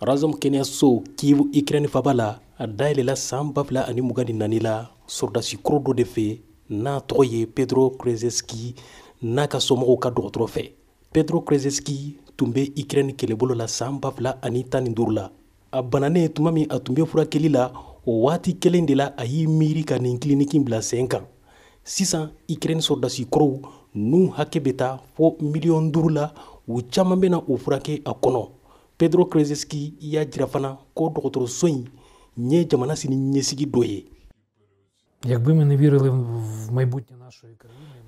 razɔm kɛnɛyaso kiivu ikrɛni faba la a dayɛlɛla san ba fila ani mugan ni nani la sɔrɔdasi kɔrɔ dɔ de fɛ n'a tɔgɔ ye pedro krezeski n'a ka somɔgɔw ka dɔgɔtɔrɔ fɛ pedro krezeski tun bɛ ikrɛni kɛlɛbolo la san ba fila ani tan ni duuru la a bananen tuma min a tun bɛ furakɛli la o waati kelen de la a y'i miiri ka nin kiliniki bila sen kan sisan ukraine sɔrɔdasi kɔrɔw n'u hakɛ bɛ taa fo miliyɔn duuru la u caman bɛna u furakɛ a kɔnɔ pedro krezeski y'a jira fana ko dɔgɔtɔrɔso in ye jamana sini ɲɛsigi dɔ ye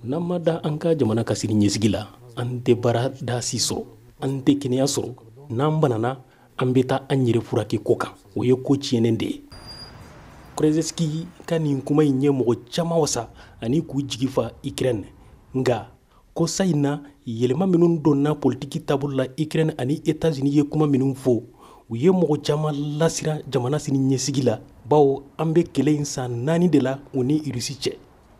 n'an ma da an ka jamana ka sini ɲɛsigi la an tɛ baarada si sɔrɔ an tɛ kɛnɛya sɔrɔ n'an banana an bɛ taa an yɛrɛ furakɛ kɔkan o ye ko tiɲɛnen de ye krezski ka nin kuma in ye mɔgɔ caman wasa ani k'u jigi fa ukraine nka kɔsa in na yɛlɛma minnu donna politiki taabolo la ukraine ani etats-unis ye kuma minnu fɔ u ye mɔgɔ caman lasiran jamana sini ɲɛsigi la bawo an bɛ kɛlɛ in san naani de la u ni irisi cɛ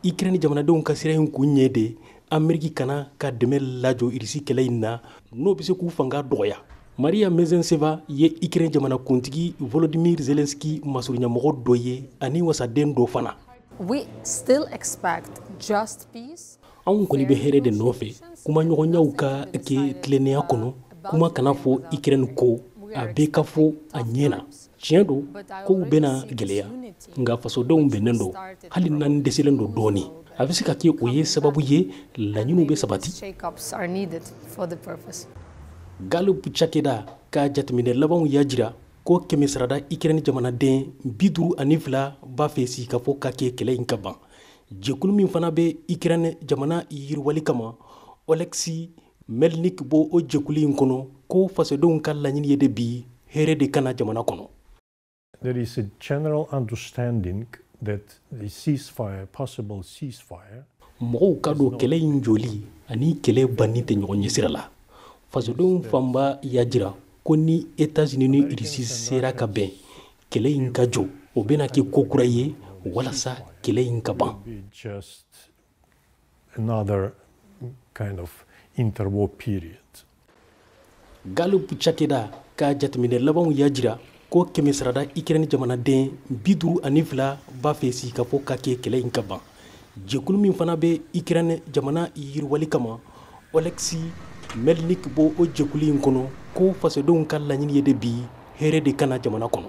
ikirɛni jamanadenw ka siran in kun ye de ameriki kan'a ka dɛmɛ lajɔ irisi kɛlɛ in na n'o bɛ se k'u fanga dɔgɔya maria mezenseva ye ikirɛn jamanakuntigi volodimir zelenski masurunyamɔgɔ dɔ ye ani wasaden dɔ fana anw kɔni bɛ hɛrɛ de nɔfɛ kumaɲɔgɔnyaw ka kɛ tilennenya kɔnɔ kuma kana fɔ ikirɛni kɔ a bɛɛ ka fɔ a ɲɛ na tiɲɛ don kow bɛna gɛlɛya nka fasodenw bɛnnen don hali n'an dɛsɛlen don dɔɔnin a bɛ se ka kɛ o ye sababu ye laɲiniw bɛ sabati gallup cakɛda ka jateminɛ labanw y'a jira ko kɛmɛsarada ikɛrɛni jamanaden bi duuru ani fila b'a fɛ sigikafɔ ka kɛ kɛlɛ in ka ban jɛkulu min fana bɛ ikɛrɛni jamana yiriwali kama oleksi Melnik b'o jɛkulu in kɔnɔ ko fasodenw ka laɲini ye de bi hɛrɛ de ka na jamana kɔnɔ. There is a general understanding that the ceasefire, possible ceasefire, mɔgɔw k'a dɔn kɛlɛ in jɔli ani kɛlɛ banni tɛ ɲɔgɔn ɲɛsira la fasodenw fanba y'a jira ko ni etats-unis ni irisi sera ka bɛn kɛlɛ in ka jɔ o bɛna kɛ ko kura ye walasa kɛlɛ in ka ban Another kind of interwar period. Gallup cakɛda ka jateminɛ labanw y'a jira ko kɛmɛsarada Ukraine jamanaden bi duuru ani fila b'a fɛ sigikafɔ ka kɛ kɛlɛ in ka ban. Jɛkulu min fana bɛ Ukraine jamana yiriwali kama, Oleksi Melnik b'o jɛkulu in kɔnɔ ko fasodenw ka laɲini ye de bi hɛrɛ de ka na jamana kɔnɔ.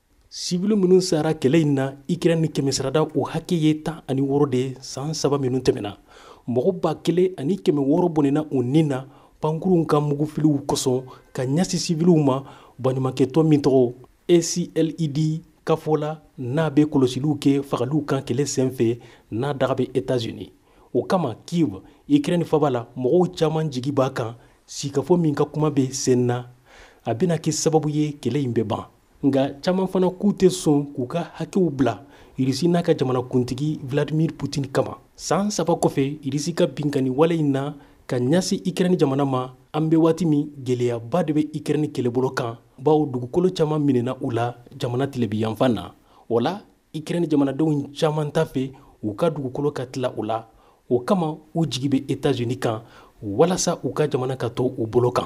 sibili minnu sara kɛlɛ in na ikirɛni kɛmɛsarada o hakɛ ye tan ani wɔɔrɔ de ye san saba minnu tɛmɛna mɔgɔ ba kelen ani kɛmɛ wɔɔrɔ bɔnɛna u ni na pankurunw ka mugufiliw kosɔn ka ɲasi siviliw ma baɲumankɛtɔn min tɔgɔ acled ka fɔ la n'a bɛ kɔlɔsiliw kɛ fagaliw kan kɛlɛ senfɛ n'a daga bɛ etats-unis o kama kiev ikirɛn faba la mɔgɔw caman jigi b'a kan sigikafɔ min ka kuma bɛ sen na a bɛna kɛ sababu ye kɛlɛ in bɛ ban nka caman fana k'u tɛ sɔn k'u ka hakɛw bila irisi n'a ka jamanakuntigi vladimir putin kama san saba kɔfɛ irisi ka binkani wale in na ka ɲasi ikrɛni jamana ma an be waati min gwɛlɛyaba de be ikrɛni kɛlɛbolo kan bawo dugukolo caman minɛna u la jamana tilebinyanfan na o la ikrɛni jamanadenw caman t'a fɛ u ka dugukolo ka tila u la o kama u jigi be etazini kan walasa u ka jamana ka to u bolo kan